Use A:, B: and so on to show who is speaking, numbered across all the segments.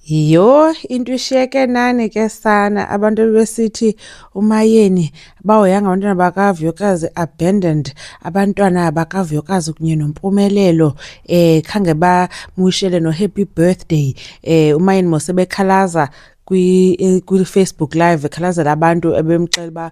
A: Yho into ishiyeke nani ke sana abantu ebebesithi umayeni bahoyanga abantwana bakavuyokazi abandoned abantwana bakavuyokazi kunye nompumelelo um khange bamwishele no-happy birthday um umayeni mose bekhalaza kwi-facebook live ekhalazela abantu ebemxela uba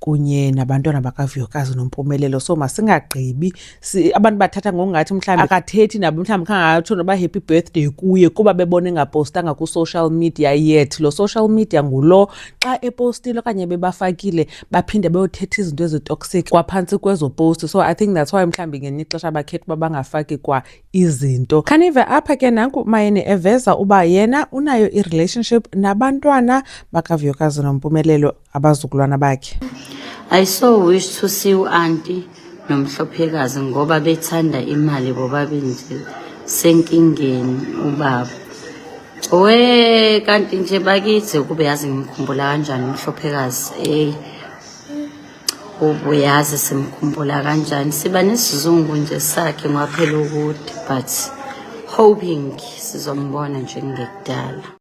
A: kunye nabantwana bakavuyokazi nompumelelo so masingagqibi abantu bathatha ngokungathi mhlawumbi akathethi nabo mhlawumbi khangatsho noba happy birthday kuye kuba bebona engapostanga ku-social media yet lo social media ngulo xa epostile okanye bebafakile baphinde beyothetha izinto ezitoxic kwaphantsi kwezoposti so i think that's why mhlawumbi ngenye ixesha bakhetha uba bangafaki kwa izinto khanive apha ke nanku mayeni eveza uba yena unayo i-relationship nabantwana bakavuyokazi nompumelelo abazukulwana bakhe I so
B: wish to see u auntie nomhlophekazi ngoba bethanda imali bobabili nje senkingeni ubaba we kanti nje bakithi ukube yazi ngimkhumbula kanjani umhlophekazi ey ubuyazi simkhumbula kanjani siba nesizungu nje sakhe ngwaphela ukuthi but hoping sizombona njengekudala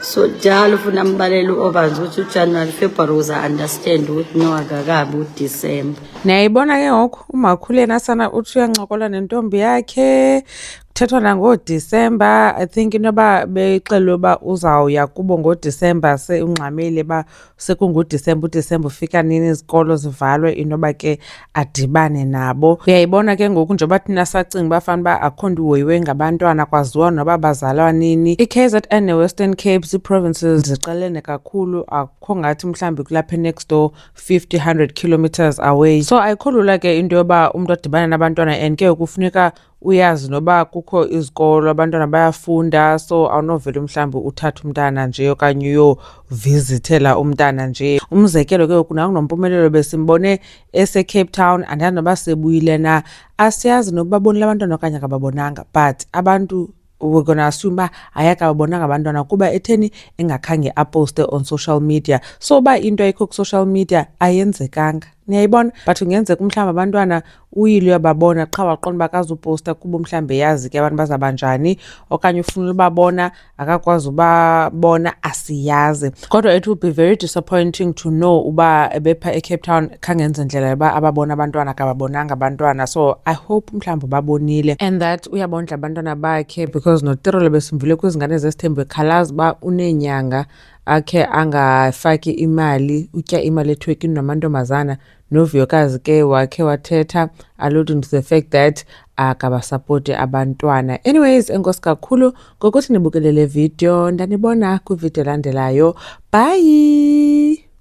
B: so jalo funa ambalele u-ovans ukuthi ujanuary february uza understand ukuthi no akakabi udisemba niyayibona ke
A: ngoku umakhuleni asana uthi uyancokola nentombi yakhe kuthethwa nangodisemba i think inoba bexelwe uba uzawuya kubo ngodisemba seungxamile uba sekungudisemba udisemba ufika nini izikolo zivalwe inoba ke adibane nabo uyayibona ke ngoku njengoba thina sacinga uba fana uba akho nto uhoyiwe ngabantwana kwaziwa noba bazalwa nini i-kzn ne-western cape zii-provinces ziqelene kakhulu akukho ngathi mhlawumbi kulapha enext door 50 100 kilometers away so ayikho lula ke into yoba umntu adibane nabantwana and ke kufuneka uyazi noba kukho izikolo abantwana bayafunda so awunovele mhlawumbi uthathe umntana nje okanye uyovizithela umntana nje umzekelo ke ngoku nakunompumelelo besimbone esecape town andazi noba sebuyile na asiyazi nokuba bonile abantwana okanye akababonanga but abantu we're gonna assume uba ayakababonanga abantwana kuba etheni engakhange aposte on social media so uba into ayikho ku-social media ayenzekanga niyayibona but ungenzeka umhlawumbi abantwana uyile uyababona qha waqonda uba kazuposta kuba umhlawumbi eyazi ke abantu bazaba njani okanye ufunela ubabona akakwazi ubabona asiyazi kodwa it will be very disappointing to know uba bepha ecape town khangenze ndlela yoba ababona abantwana kababonanga abantwana so i hope mhlawumbi babonile and that uyabondla abantwana bakhe because notirolo besimvile kwizingane zesithembu ekhalaza uba uneenyanga akhe angafaki imali utya imali ethwekini namantombazana Novuyokazi ke wakhe wathetha alluding to the fact that akabasapoti abantwana. Anyways, enkosi kakhulu ngokuthi nibukele le video. Ndanibona kwivideo elandelayo. Bye!